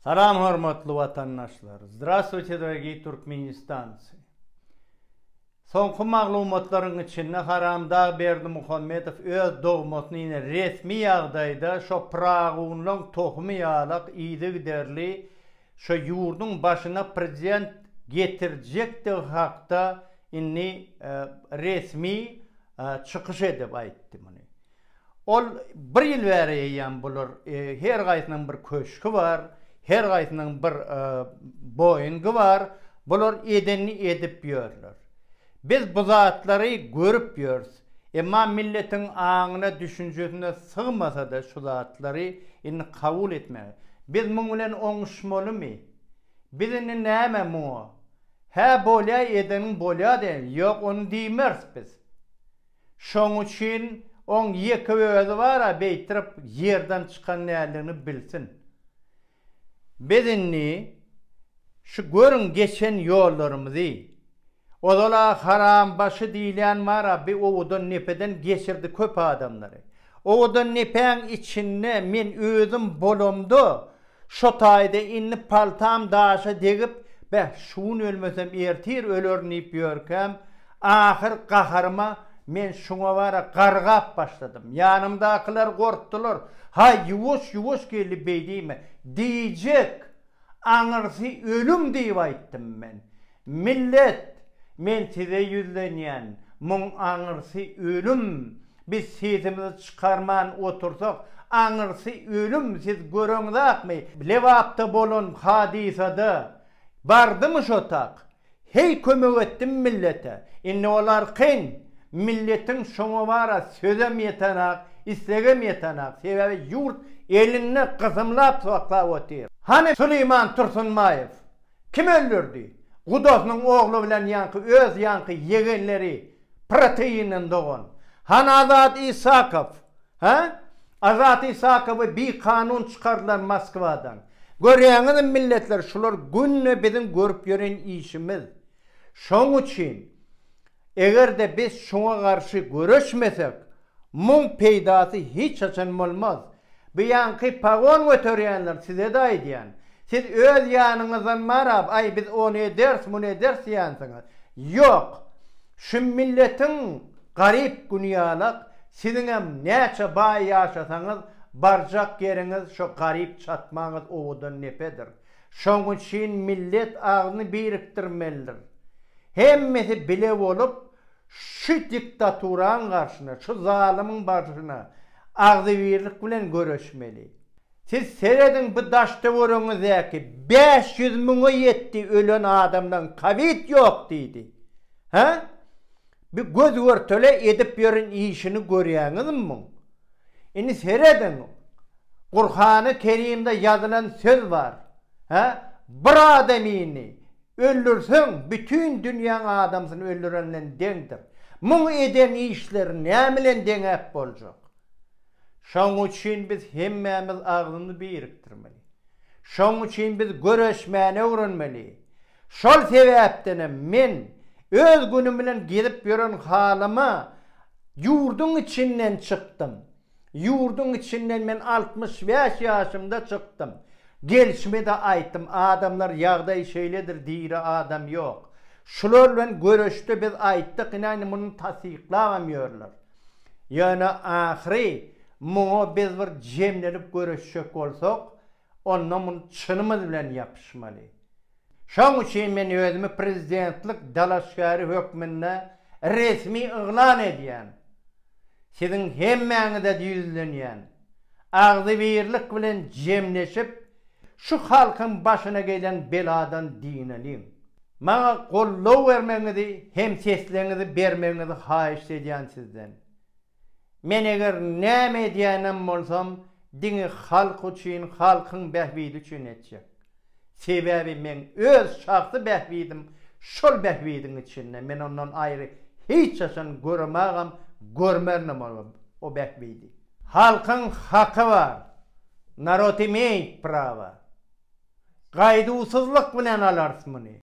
Salam hormatly watandaşlar! Zdravstvuyte dragii turkmenistanci! Soňky maglumatlaryň içinde haramdag Berdimuhamedow öz dogmasyny ýene resmi ýagdaýda şo pyragynlaň tohumy ýalak yzygiderli şo ýurduň başyna prezident getirjekdigi hakda indi resmi çykyş edip aýtdy muny. Ol bir ýyl bäri eýýäm bular her gaýsynyň bir köşgi bar, her gaýsynyň bir Boeing-i bar, bular edenini edip ýörler. Biz bu zatlary görüp ýörüs. Emma milletiň aňyna, düşünjesine sygmasa-da şu zatlary indi kabul etmäge. Biz muň bilen oňuşmalymy? Biz indi näme muňa? Hä bolýa edeniň bolýa diýeli. Ýok ony diýmeris biz. Şoň üçin oň ýeke özi bar-a beýtirip ýerden çykan däldigini bilsin. Biz indi şu görüň geçen ýollarymyzy. Ozal-a Harambaşy diýilýän bar-a bi owadan nepeden geçirdi köp adamlary. Owadan nepäň içinde men özüm bolamda Şo taýda indi paltam daşa degip, beh, şu gün ölmesem ertir ölerin diýip ýörkäm, ahyr gaharyma men şuňa bara gargap başladym. Ýanymdakylar gorkdular. Haý, ýuwaş, ýuwaş geldi beýdiýme. Diýjek! Aňyrsy ölüm diýip aýtdym men. Millet, men size ýüzlenýän, muň aňyrsy ölüm, biz sesimizi çykarman otursak, aňyrsy ölüm, siz göreňzakmy, Lebapda bolan hadysada bardymy şo tak, heý kömek etdim millete, indi olar kyn, milletiň şoňa bara sözem ýetenak, islegem ýetenak, sebäbi ýurt elinde gysymlap saklap otyr. Hany Süleýman Tursunbaýew, Kim öldürdi? Gudasynyň ogly bilen ýaňky öz ýaňky ýegenleri proteinden dogan. Hany Azat Isakow? Hä? Azat Isakowy bi kanun çykardylar Moskwadan. Görýäňizmi milletler şular günde biziň görüp ýören işimiz. Şoň üçin Eger-de biz şuňa garşy göreşmesek, muň peýdasy hiç haçan bolmaz. Bu ýaňky pagon göterýänler size-de aýdýan. Siz öz ýanyňyzdan marap, aý biz ony ederis, muny ederis diýänsiňiz. Ýok! Şu milletiň garyp güni ýalak, siziňem näçe baý ýaşasaňyz, barjak ýeriňiz şo garyp çatmaňyz owadan nepedir. Şoň üçin millet agzyny birikdirmelidir. Hemmesi bile bolup şu diktaturaň garşyna, şu zalymyň barşyna agzybirlik bilen göreşmeli. Siz serediň bu daş-töweregiňizdäki bäş ýüz müňe ýetdi ölen adamlaň kowid ýok diýdi. Hä? Bi göz görtele edip ýören işini görýäňizmi muň? Indi serediň, Gurhany Kerimde ýazylan söz bar, hä, bir adamyny öldürseň, bütin dünýäň adamsyny öldüren bilen deňdir. Muň eden işleri näme bilen deňäp boljak? Şoň üçin biz hemmämiz agzymyzy birikdirmeli. Şoň üçin biz göreşmäni öwrenmeli. Şol sebäpdenem men öz günüm bilen gezip ýören halyma ýurduň içinden çykdym. Ýurduň içinden men altmyş bäş ýaşymda çykdym. Gelşime-de aýtdym, adamlar ýagdaý şeýledir, diri adam ýok. Şular bilen göreşde biz aýtdyk, ine indi muny tassyklabam ýörler. Ýöne ahyry muňa biz bir jemlenip göreşjek bolsak, Onda muny çynymyz bilen ýapyşmaly. Şoň üçin men özümi prezidentlik dalaşgäri hökmünde resmi yglan edýän. Siziň hemmäňize ýüzlenýän. Agzybirlik bilen jemleşip, şu halkyň başyna gelen beladan dynanyň. Maňa goldaw bermegiňizi hem sesleňizi bermegiňizi haýyşt edýän sizden. Men eger näme edýänem bolsam diňe halk üçin halkyň bähbidi üçin etjek. Sebäbi meň öz şahsy bähbidim şol bähbidiň içinde men ondan aýry hiç haçan göremagam görmerinem o bähbidi. Halkyň haky bar, narod imeýt prawa. Gaýduwsyzlyk bilen alarys muny.